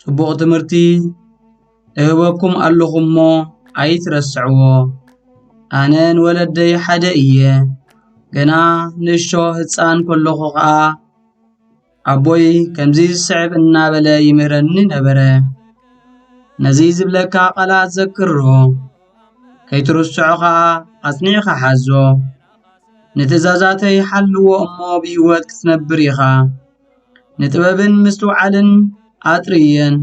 ጽቡቕ ትምህርቲ እህበኩም ኣለኹ እሞ ኣይትረስዕዎ። ኣነ ንወለደይ ሓደ እየ። ገና ንእሾ ህፃን ከለኹ ኸዓ ኣቦይ ከምዚ ዝስዕብ እናበለ ይምህረኒ ነበረ። ነዚ ዝብለካ ቃላት ዘክሮ ከይትርስዖ ኸዓ ኣጽኒዕኻ ሓዞ። ንትእዛዛተይ ሓልዎ እሞ ብህይወት ክትነብር ኢኻ። ንጥበብን ምስትውዓልን ኣጥርየን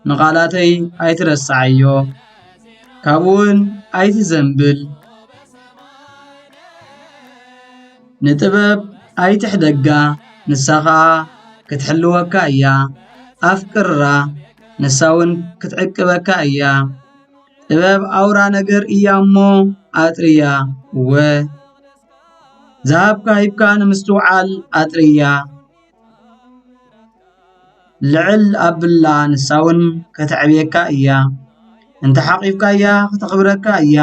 ንቓላተይ ኣይትረስዓዮ ካብኡውን ኣይትዘንብል ንጥበብ ኣይትሕደጋ ንሳ ኸኣ ክትሕልወካ እያ ኣፍቅራ ንሳውን ክትዕቅበካ እያ ጥበብ ኣውራ ነገር እያ እሞ ኣጥርያ እወ ዝሃብካ ሂብካ ንምስትውዓል ኣጥርያ ልዕል ኣብላ ንሳውን ከተዕብየካ እያ እንተ ሓቒፍካያ ኽተኽብረካ እያ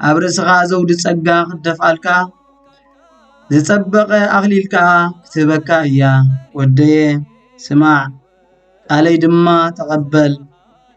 ኣብ ርእስኻ ዘውዲ ጸጋ ኽትደፍኣልካ ዝጸበቐ ኣኽሊል ከኣ ክትህበካ እያ ወደየ ስማዕ ቃለይ ድማ ተቐበል።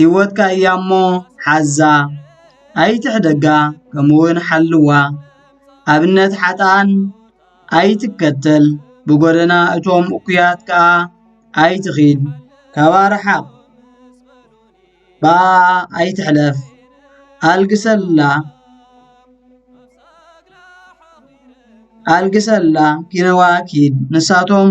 ሂወትካ እያ እሞ ሓዛ ኣይትሕደጋ ከምኡ ውን ሓልዋ ኣብነት ሓጥኣን ኣይትከተል ብጎደና እቶም እኩያት ክኣ ኣይትኺድ ካብኣ ርሓቕ ብኣ ኣይትሕለፍ ኣልግሰላ ኣልግሰላ ኪነዋ ኪድ ንሳቶም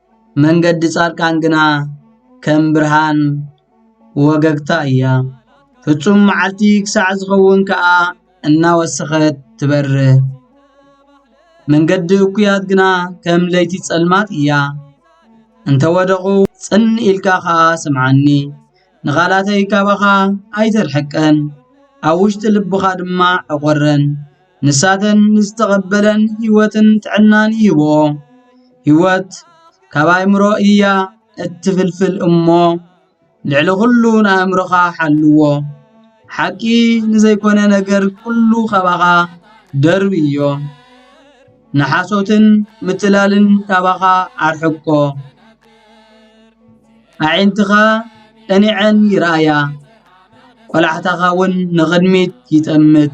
መንገዲ ጻድቃን ግና ከም ብርሃን ወገግታ እያ። ፍጹም መዓልቲ ክሳዕ ዝኸውን ከኣ እናወሰኸት ትበርህ። መንገዲ እኩያት ግና ከም ለይቲ ጸልማት እያ። እንተ ወደቑ ጽን ኢልካ ኸኣ ስምዓኒ፣ ንቓላተይ ካባኻ ኣይተርሕቀን፣ ኣብ ውሽጢ ልብኻ ድማ ዕቖረን። ንሳተን ንዝተቐበለን ህይወትን ጥዕናን ይህብኦ። ህይወት ካብ ኣእምሮ እያ እትፍልፍል እሞ ልዕሊ ኹሉ ንኣእምሮኻ ሓልዎ። ሓቂ ንዘይኮነ ነገር ኩሉ ካባኻ ደርቢ እዮ። ንሓሶትን ምትላልን ካባኻ ኣርሕቆ። ኣዒንትኻ ቀኒዐን ይርኣያ፣ ቆላሕታኻ እውን ንቕድሚት ይጠምት።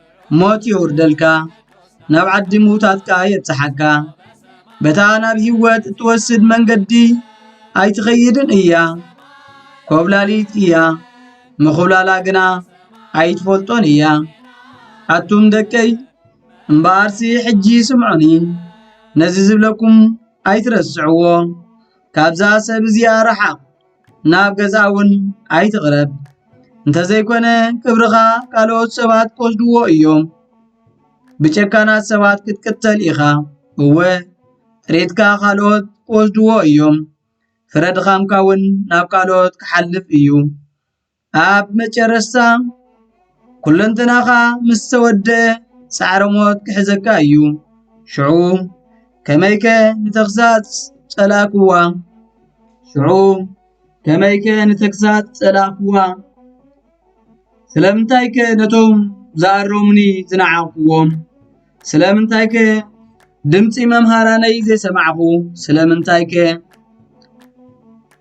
ሞት የውርደልካ ናብ ዓዲ ምዉታት ከኣ የብጽሓካ በታ ናብ ህይወት እትወስድ መንገዲ ኣይትኸይድን እያ ኮብላሊት እያ ምኹብላላ ግና ኣይትፈልጦን እያ ኣቱም ደቀይ እምበኣርሲ ሕጂ ስምዑኒ ነዚ ዝብለኩም ኣይትረስዕዎ ካብዛ ሰብ እዚኣ ረሓቕ ናብ ገዛ እውን ኣይትቕረብ፣ እንተ ዘይኮነ ክብርኻ ካልኦት ሰባት ክወስድዎ እዮም። ብጨካናት ሰባት ክትቅተል ኢኻ፣ እወ ጥሪትካ ካልኦት ክወስድዎ እዮም፣ ፍረ ድኻምካ እውን ናብ ካልኦት ክሓልፍ እዩ። ኣብ መጨረስታ ኩለንተናኻ ምስ ተወደ ጻዕረ ሞት ክሕዘካ እዩ። ሽዑ ከመይከ ንተግሳጽ ጸላእክዋ? ሽዑ ከመይከ ንተግሳጽ ጸላእክዋ? ስለምንታይከ ነቶም ዝኣረሙኒ ዝነዓቕክዎም? ስለምንታይከ ድምጺ መምሃራነይ ዘይሰማዕኩ? ስለምንታይከ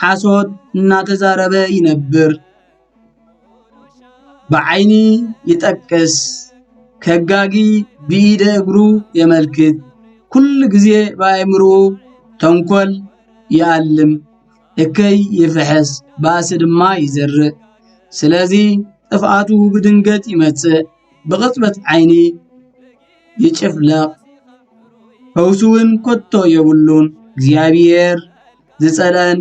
ሓሶት እናተዛረበ ይነብር ብዓይኒ ይጠቅስ ከጋጊ ብኢደ እግሩ የመልክት ኩሉ ጊዜ ብኣእምርኡ ተንኮል ይኣልም እከይ ይፍሕስ ባእሲ ድማ ይዘርእ ስለዚ ጥፍኣቱ ብድንገት ይመጽእ ብቕጽበት ዓይኒ ይጭፍለቕ ፈውሱ ዉን ከቶ የብሉን እግዚኣብሔር። ዝጸልኣን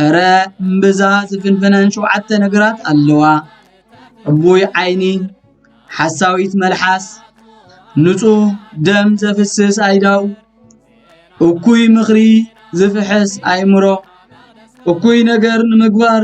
እረ እምብዛ ዝፍንፍነን ሸውዓተ ነገራት ኣለዋ ዕቡይ ዓይኒ ሓሳዊት መልሓስ ንጹህ ደም ዘፍስስ ኣይዳው እኩይ ምኽሪ ዝፍሕስ ኣይምሮ እኩይ ነገር ንምግባር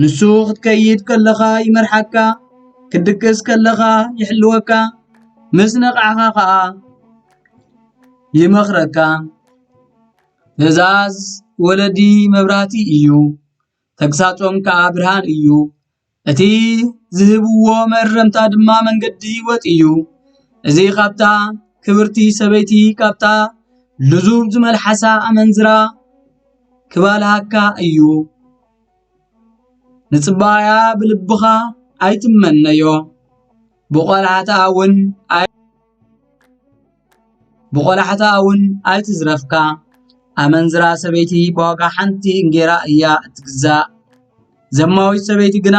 ንሱ ክትከይድ ከለኻ ይመርሓካ፣ ክትድቅስ ከለኻ ይሕልወካ፣ ምስ ነቓዕኻ ኸኣ ይመኽረካ። ትእዛዝ ወለዲ መብራህቲ እዩ፣ ተግሳጾም ከኣ ብርሃን እዩ። እቲ ዝህብዎ መእረምታ ድማ መንገዲ ህይወት እዩ። እዚ ኻብታ ክብርቲ ሰበይቲ ካብታ ልዙብ ዝመልሓሳ ኣመንዝራ ክበልሃካ እዩ ንጽባያ ብልብኻ ኣይትመነዮ ብቆላሕታ ውን ኣይ ብቆላሕታ ውን ኣይትዝረፍካ ኣመንዝራ ሰበይቲ ብዋጋ ሓንቲ እንጌራ እያ እትግዛእ ዘማዊት ሰበይቲ ግና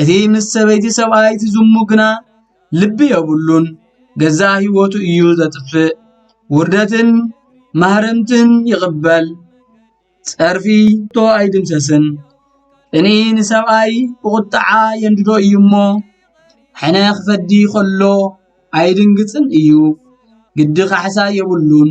እቲ ምስ ሰበይቲ ሰብኣይ ዝዝሙ ግና ልቢ የብሉን ገዛእ ሕይወቱ እዩ ዘጥፍእ ውርደትን ማህረምትን ይቕበል ጸርፊ እቶ ኣይድምሰስን ቅኒ ንሰብኣይ ብቝጥዓ የንድዶ እዩ እሞ ሕነ ኽፈዲ ኸሎ ኣይድንግጽን እዩ ግዲ ኻሕሳ የብሉን።